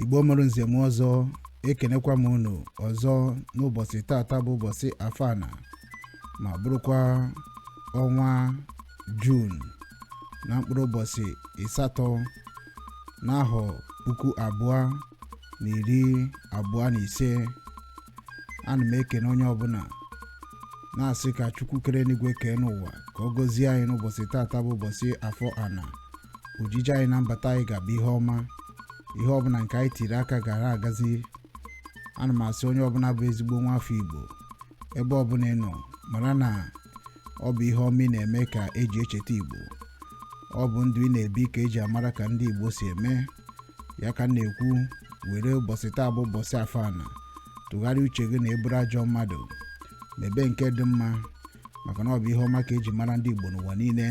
igbo mụrụ nze mụọ ọzọ ekenekwa m unu ọzọ n'ụbọchị tata bụ ụbọchị afọ ana ma bụrụkwa ọnwa jun na mkpụrụ ụbọchị ịsatọ n'ahọ puku abụọ na iri abụọ na ise ana m ekene onye ọbụla na-asị ka chukwu kere enigwe kee enụwa ka ọ gọzie anyị n'ụbọchị tata bụ ụbọchị afọ ana ojije anyị na mbata anyị ga-abụ ihe ọma ihe ọbụla nke anyị tiri aka gara agazi ana m asị onye ọbụla bụ ezigbo nwa afọ igbo ebe ọbụla ị nọ mara na ọ bụ ihe ọma ị na-eme ka eji echeta igbo ọ bụ ndụ ị na-ebi ka eji amara ka ndị igbo si eme ya ka m na-ekwu were ụbọchị taa bụ ụbọchị afọ ana tụgharịa uche gị na ị bụrụ ajọ mmadụ mebe nke dị mma maka na ọ bụ ihe ọma ka eji mara ndị igbo n'ụwa niile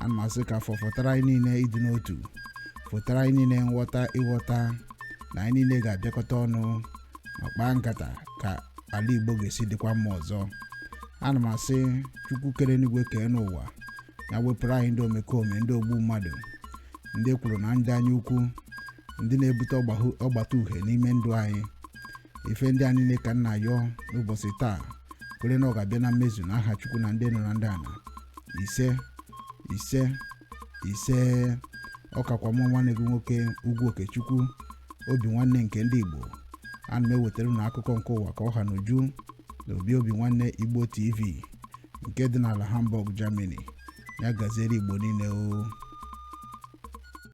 ana m asị ka afọ fọtara anyị niile ịdị n'otu fọtara anyị niile nghọta ịghọta na anyị niile ga-abịakọta ọnụ ma kpaa nkata ka ala igbo ga-esi dịkwa mma ọzọ ana m asị chukwu kere enigwe kee enụwa ya wepụrụ anyị ndị omekome ndị ogbu mmadụ ndị ekworo na ndị anya ukwu ndị na-ebute ọgbata uhie n'ime ndụ anyị ife ndị a niile ka m na-ayọ n'ụbọchị taa kwere na ọ ga-abịa na mmezu na aha chukwu na ndị nọ na ndị ana ise ise ise ọ kakwa mụ nwanne gị nwoke ugwu okechukwu obinwanne nke ndị igbo ana m ewetara unu akụkọ nke ụwa ka ọ ha n'uju na obi obinwanne igbo tv nke dị n'ala hamburg germany ya gaziere igbo niile o